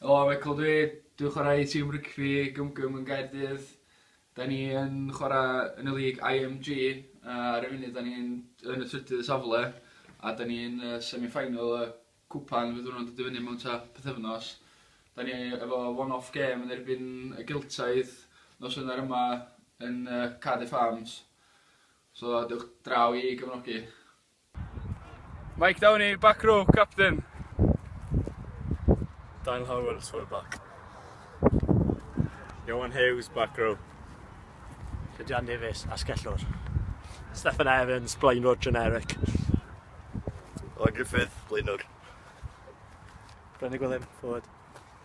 Helo, Michael dw i, dwi'n chwarae i tîm rygbi Gymgym yn Gaerdydd. 'Dan ni yn chwarae yn y League IMG a ar y funud 'dan ni'n yn y trydydd safle a 'dan ni yn y semi-final y cwpan fydd hwnnw'n dod i fyny mewn tua pythefnos. 'Dan ni efo one off game yn erbyn y Geltaidd nos Wener yma yn yy Cardiff Arms so dewch draw i gefnogi. Mike Downey, back row, captain. Daniel Howells, full back. Johan Hughes, back row. Dydian Davies, asgellwr. Stefan Evans, blaenwr generic. Owen Griffith, blaenwr. Brennan Gwilym, forward.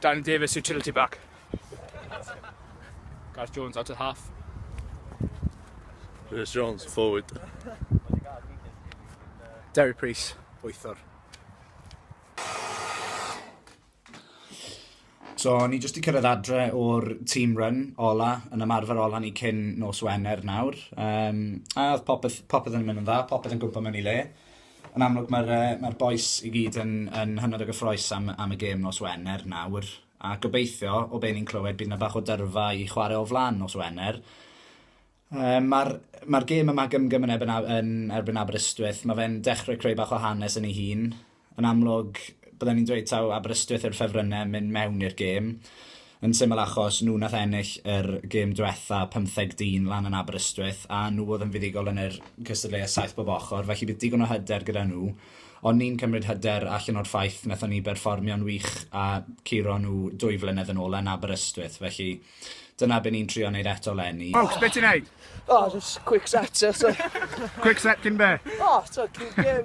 Danny Davies, utility back. Gareth Jones, out of half. Rhys Jones, forward. Derry Price, bwythwr. So, ni jyst i cyrraedd adre o'r team run ola, yn ymarfer ola ni cyn nos Wener nawr. Um, a oedd popeth, popeth yn mynd yn dda, popeth yn gwybod mewn i le. Yn amlwg mae'r yy mae'r bois i gyd yn yn hynod o gyffrous am am y gêm nos Wener nawr, a gobeithio, o be' ni'n clywed, bydd 'na bach o dyrfa i chwarae o flan nos Wener. Yym ma'r ma'r gêm yma Gymgym yn erbyn A- yn erbyn Aberystwyth, ma' fe'n dechre creu bach o hanes yn ei hun. Yn amlwg bydden ni'n dweud taw Aberystwyth yw'r ffefrynne myn' mewn i'r gêm. Yn syml achos nhw nath ennill yr gêm dwetha, pymtheg dyn lan yn Aberystwyth, a nhw oedd yn fuddugol yn yr cystadleuaeth saith bob ochr, felly bydd digon o hyder gyda nhw. Ond ni'n cymryd hyder allan o'r ffaith nathon ni berfformio'n wych a curo nhw dwy flynedd yn ôl yn Aberystwyth, felly dyna be ni'n trio neud eto 'leni. Ffowc, be ti'n neud? O, jyst quick set ie so. Quick set cyn be? O, t'o' cyn gêm.